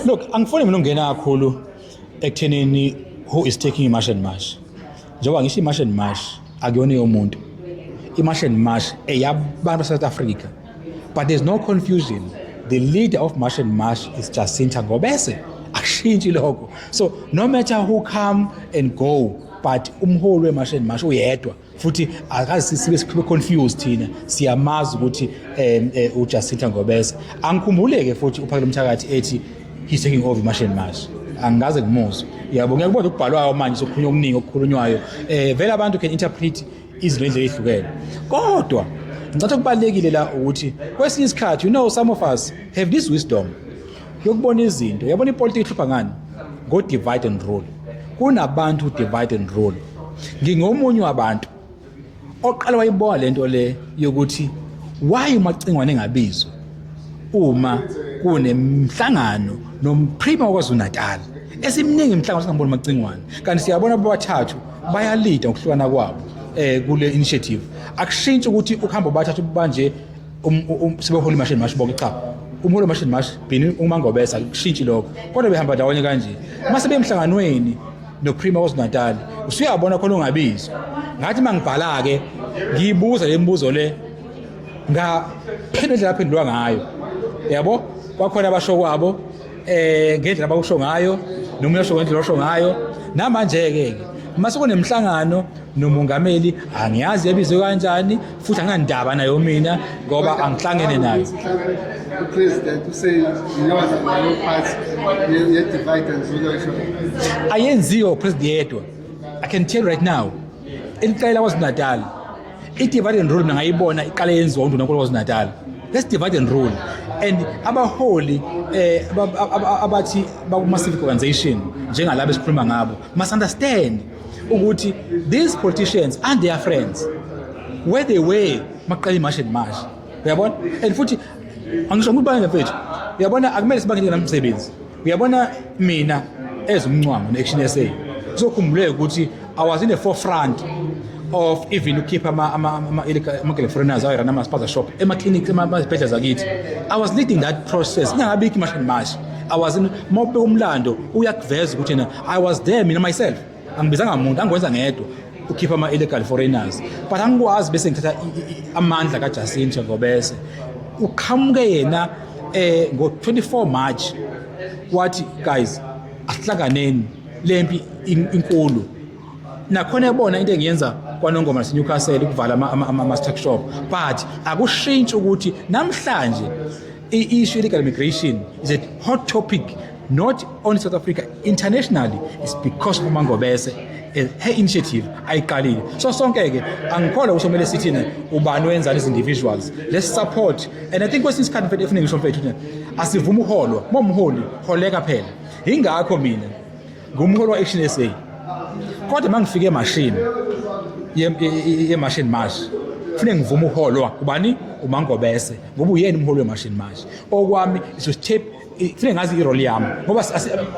Look, angifuni mina ungena kakhulu ekuthenini who is taking i march and march. Njengoba ngisho i march and march akuyona yomuntu. I march and march eyabantu South Africa. But there's no confusion. The leader of march and march is Jacinta Ngobese. Akushintshi lokho. So no matter who come and go but umholi we march and march uyedwa. futhi akazi sibe sibe confused thina siyamazi ukuthi um eh, uJacinta Ngobese angikhumbuleke futhi uphakele umthakathi ethi he's taking over masheni mashi angikaze ngimuzwe yabo ngeke kodwa ukubhalwayo manje sokukhulunywa okuningi okukhulunywayo um vele abantu can interpret izinto endlela ezihlukene kodwa ngicatha okubalulekile la ukuthi kwesinye isikhathi you know some of us have this wisdom yokubona izinto yabona ipolitiki ihlupha ngani ngo-divide and rule kunabantu divide and rule ngingomunye wabantu oqala wayibona le nto le yokuthi why umacingwane engabizwa uma kunemhlangano nomprima wakwazulu-natal esimningi imhlangano singamboni umacingwane kanti siyabona bobathathu bayalida ngokuhlukana kwabo um kule initiative akushintshi ukuthi ukuhamba bobathathu banje Um, um, um, siboholi mashini mashi bonke cha umholi mashini mashi bhini umangobesa kushintshi lokho kodwa behamba ndawonye kanje uma sebemhlanganweni noprima wazinatali usuyabona khona ungabizwa ngathi uma ngibhala-ke ngiyibuza le mibuzo le ngaphendula indlela aphendulwa ngayo yabo kwakhona abasho kwabo eh ngendlela abawusho ngayo nomunye osho ngendlela osho ngayo namanje ke uma sekunemhlangano nomongameli angiyazi yabizwe kanjani futhi anginandaba nayo mina ngoba angihlangene nayo upresident useyiyona leyo part ye-divide and rule ayenziwa upresident yedwa i can tell right now eliqela kwaZulu-natal I-divide and rule ningayibona iqale yenziwa undunankulu KwaZulu-Natal. Let's divide and rule. And abaholi eh abathi bakuma civic organization njengalabo esikhuluma ngabo must understand ukuthi these politicians and their friends where they were maqala imash and mash. Uyabona? And futhi angisho ukuthi bangene mfethu. Uyabona akumele sibangene namsebenzi. uyabona mina as umncwango ne-action sa kuzokhumbuleka ukuthi i was in the forefront of even ukhipha ama-galeforeners ama, ama, ama ayerana ama-spaza shop ema-clinic emazibhedlela zakithi i was leading that process ingangabikho imash and mash i was in mawubeka umlando uyakuveza ukuthi yena i was there mina myself angibizanga muntu angikwenza ngedwa ukhipha ama-illegal foreigners but angikwazi bese ngithatha amandla kajacinto ngobese uqhamuke yena eh ngo-24 march wathi guys asihlanganeni le mpi inkulu nakhona ebona into engiyenza kwanongoma nasenewcastle ukuvala ama-struck shop but akushintshi ukuthi namhlanje I-issue illegal migration is a hot topic not only South Africa internationally is because of uMangobese eh, her initiative ayiqalile so sonke ke angikholwa ukuthi kumele sithi ne ubani wenzani as individuals let's support and i think kwesinye isikhathi mfethu efuningi somfethu asivuma uholwa momholi holeka phela ingakho mina ngumholi wa-action sa kodwa uma ngifike emashini yemashini march kufuneka ngivume uholwa ubani umangobese ngoba uyena umholi wemashini march okwami is to step kufuneka ngazi iroli yami ngoba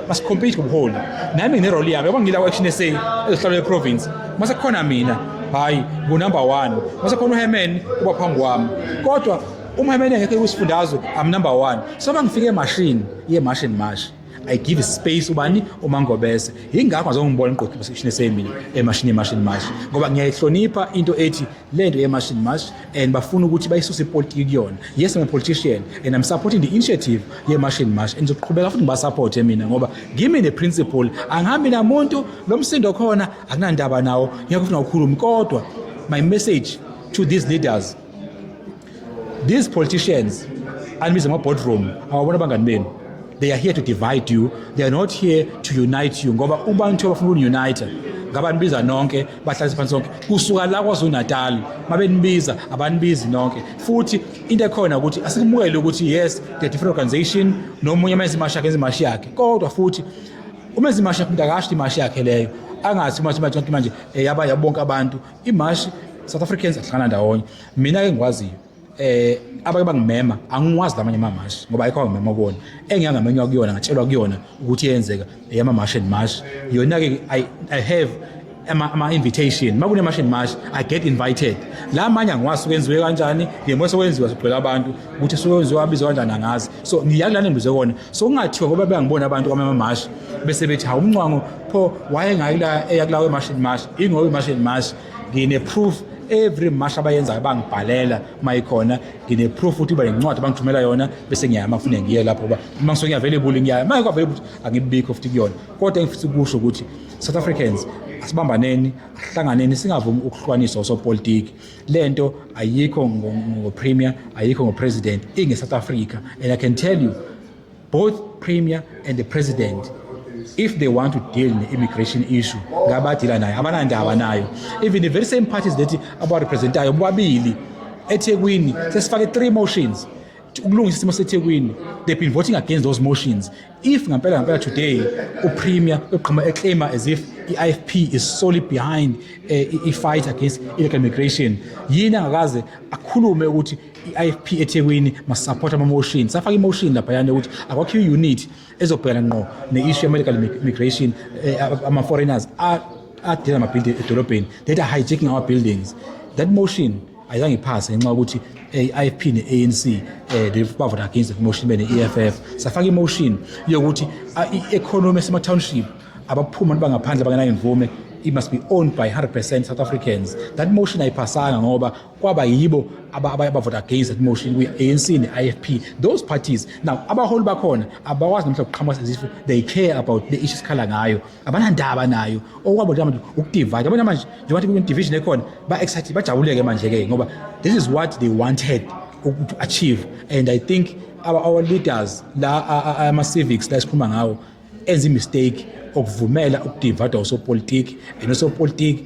masikhompete ngobuholi nami ngineroli yami yabo ngila ku-action sa ezohlalo yeprovince uma sekukhona mina hhayi ngunumber one uma sekukhona uhemen uba phambi kwami kodwa uma hemen engekho kwisifundazwe am number one so uma ngifike emashini ye-marsh and marsh I give space ubani umangobese yingakho ngizongibona iqoqi position esemini emashini emashini mashi ngoba ngiyayihlonipha into ethi lento yemashini mashi and bafuna ukuthi bayisuse ipolitiki kuyona yes I'm a politician and I'm supporting the initiative yemashini mashi and ngizoqhubeka futhi ngibasupporte mina ngoba ngimi ne principle angihambi namuntu lo msindo khona akunandaba nawo ngiyakufuna ukukhuluma kodwa my message to these leaders these politicians anibiza ama-boardroom awabona abangani benu they are here to divide you they are not here to unite you ngoba ubantu abafuna ukuniunite ngabanibiza nonke bahlalise phansi sonke kusuka la kwazulu-natal mabenibiza abanibizi nonke futhi into ekhona ukuthi asikumukele ukuthi yes the different organization nomunye amenza imashi yakhe enza imashi yakhe kodwa futhi umenza imashi yakhe umuntu akasho imashi yakhe leyo angathi uma simathi manje eh, yaba yabonke abantu imashi south africans ahlangana ndawonye mina ke ngikwaziyo eh abake bangimema angiwazi lamanye amamashi ngoba ayikho ngimema kuona engiyangamenywa kuyona ngatshelwa kuyona ukuthi yenzeka eyama mash and mash yona ke i i have ama, ama invitation makune mash and mash i get invited la manye angiwazi kwenziwe kanjani yemo sekwenziwa sigcwele abantu ukuthi sekwenziwa abizwa kanjani angazi so ngiyakulana ngibuze kona so kungathiwa ngoba bengibona abantu kwamama mash bese bethi hawu umncwango pho wayengayila eya kulawo mashini mashi ingoba imashini mashi ngine proof every mash abayenzayo bangibhalela uma ikhona ngine-proof ukuthi uba nencwadi abangithumela yona bese ngiyaya uma ngifune ngiye lapho uba uma ngisuke ngiyavelebuli ngiyaya uma kwavele ukuthi angibikho futhi kuyona kodwa engifisa ukusho ukuthi south africans asibambaneni ahlanganeni singavumi ukuhlukanisa osopolitiki le nto ayikho ngopremier ayikho ngopresident inge-south africa and i can tell you Both premier and the president if they want to deal ne-immigration issue ngabadila nayo abanandaba nayo even the very same parties that abarepresentayo bobabili ethekwini sesifake three motions ukulungisa isimo sethekwini they've been voting against those motions if ngampela ngampela today upremier uqhuma eclaima as if i-ifp is solely behind uh, i-fight against illegal immigration yini angakaze akhulume ukuthi i-ifp ethekwini masisapothe ama-motion safaka i-motion laphayana ukuthi akwakhiwe i-unit ezobhekana ngqo ne-issue ye-medical migration eh, ama-foreigners adela ama-building edolobheni that are hijacking our buildings that motion ayizange iphase ngenxa yokuthi eh, i-ifp ne-anc eh, bavota against that motion bene-eff safaka i-motion yokuthi ah, i-economy esema-township abaphuma abantu bangaphandle bangenayo imvume it must be owned by 100% South Africans. That motion ayiphasanga ngoba kwaba yibo abavota against that motion kwi-anc ne-ifp those parties now abaholi bakhona abakwazi namhla kuqhamuka sezifo they care about the issue sikhala ngayo abanandaba nayo okwabo nje manje ukudivide abona manje njengoba kune-division ekhona ba-excited bajabuleke manje-ke ngoba this is what they wanted to achieve and i think our, our leaders la ama-civics la esikhuluma ngawo enza i-mistake okuvumela ukudivada osopolitiki and osopolitiki